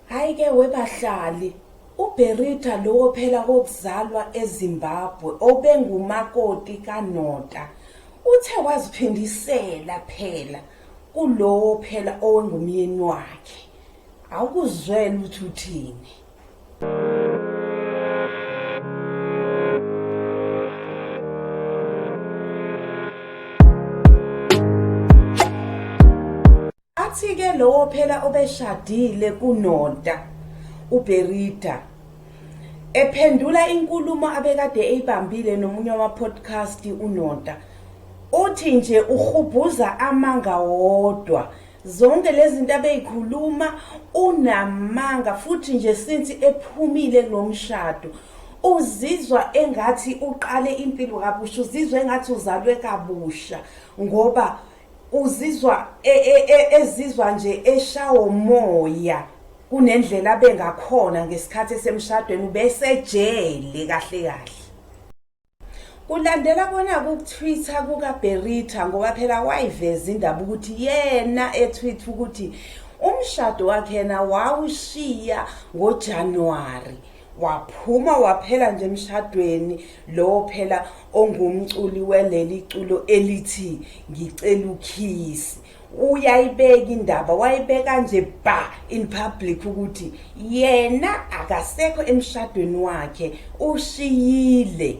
Hayi ke webahlali, uBerita lowo phela kokuzalwa eZimbabwe obengumakoti kaNota uthe waziphindisela phela kulowo phela owengumyeni wakhe. Awukuzwela ukuthi uthini. Athi-ke lowo phela obeshadile kuNonta, uBerida, ephendula inkulumo abekade eyibambile nomunye wama-podcast uNonta, uthi nje uhubhuza amanga wodwa. Zonke lezi zinto abeyikhuluma unamanga futhi nje since ephumile kulomshado uzizwa engathi uqale impilo kabusha uzizwa engathi uzalwe kabusha ngoba Uzizwa e, e, e, ezizwa nje eshawo moya kunendlela abengakhona ngesikhathi esemshadweni ubesejele kahle kahle. Kulandela kona kukuthwitha kukaBerita ngoba phela wayiveza indaba ukuthi yena ethwitha ukuthi umshado wakhe yena wawushiya ngoJanuwari Waphuma waphela nje emshadweni lowo phela ongumculi weleli culo elithi ngicela ukhisi. Uyayibeka indaba wayibeka nje ba in public ukuthi yena akasekho emshadweni wakhe ushiyile.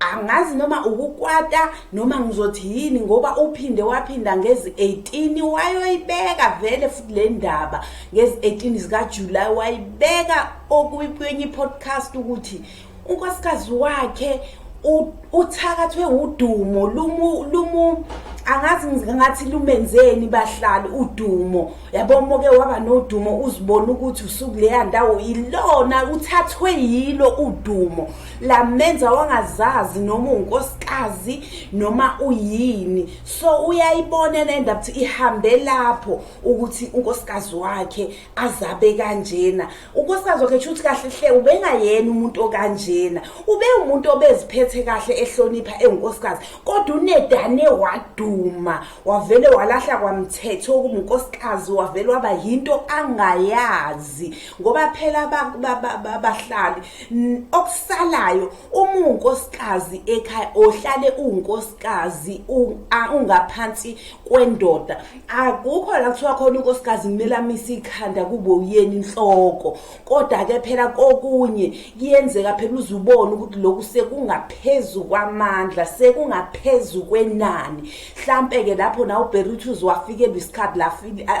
angazi noma ukukwata noma ngizothi yini ngoba uphinde waphinda ngezi 18 wayoyibeka vele futhi le ndaba ngezi 18 zikaJuly wayibeka okuyiphenye podcast ukuthi unkosikazi wakhe uthakathwe udumo lumu lumu angazi ngathi lumenzeni bahlali udumo yabo moke waba nodumo uzibona ukuthi usuku leya ndawo ilona uthathwe yilo udumo lamenza wangazazi noma unkosikazi noma uyini so uyayibona lenda ukuthi ihambe lapho ukuthi unkosikazi wakhe azabe kanjena unkosikazi wakhe shuthi kahle hle ubengayena umuntu okanjena ube umuntu obeziphethe kahle ehlonipha engunkosikazi kodwa unedane waduma wavele walahla kwamthetho okunkosikazi wavele waba yinto angayazi ngoba phela abahlali okusalayo uma unkosikazi ekhaya ohlale unkosikazi ungaphansi kwendoda akukho la kuthiwa khona unkosikazi kumele amise ikhanda kube uyena inhloko kodwa ke phela kokunye kuyenzeka phela uzubona ukuthi lokhu sekungaphezulu kwamandla sekungaphezulu kwenani mhlampe ke lapho na uBerutus wafikelwa isikhathi la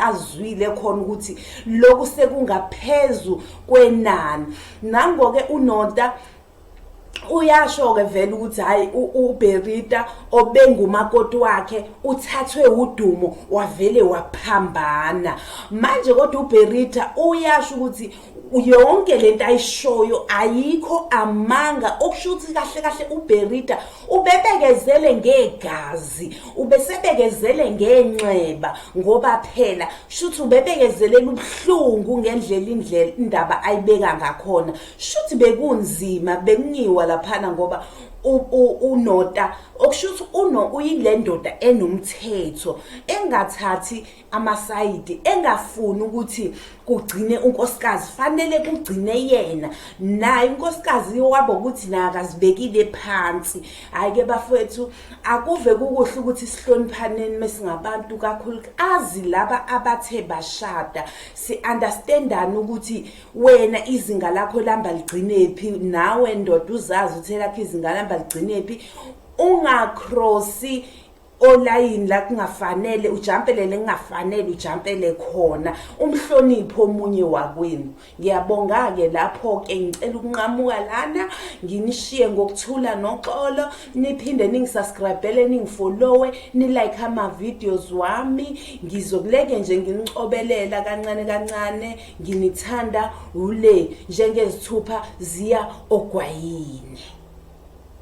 azwile khona ukuthi lokhu sekungaphezulu kwenani nangoke unota uyasho-ke vele ukuthi hhayi uberita obengumakoti wakhe uthathwe udumo wavele waphambana manje kodwa uberita uyasho ukuthi yonke lento ayishoyo ayikho amanga okusho ukuthi kahle kahle uberita ubebekezele ngegazi ubesebekezele ngenxeba ngoba phela shuthi ubebekezelela ubuhlungu ngendlela indlela indaba ayibeka ngakhona shuthi bekunzima bekunyiwa laphana ngoba unota okusho ukuthi uno uyile ndoda enomthetho engathathi amasayidi engafuni ukuthi kugcine unkosikazi fanele kugcine yena naye unkosikazi wabo ukuthi naye akazibekile phansi hhayi-ke bafowethu akuve kukuhle ukuthi sihloniphaneni mesingabantu kakhulu azi laba abathe bashada si-understandani ukuthi wena izinga lakho lihamba ligcinephi nawe ndoda uzazi ukuthi elakho izinga lihamba ligcinephi ungakrosi olayini la kungafanele ujampelele kungafanele ujampele khona umhlonipho omunye wakwenu ngiyabonga-ke lapho-ke ngicela ukunqamuka lana nginishiye ngokuthula noxolo niphinde ningisaskrayibhele ningifolowe nilike ama-videos wami ngizokuleke nje nginicobelela kancane kancane nginithanda ule njengezithupha ziya ogwayini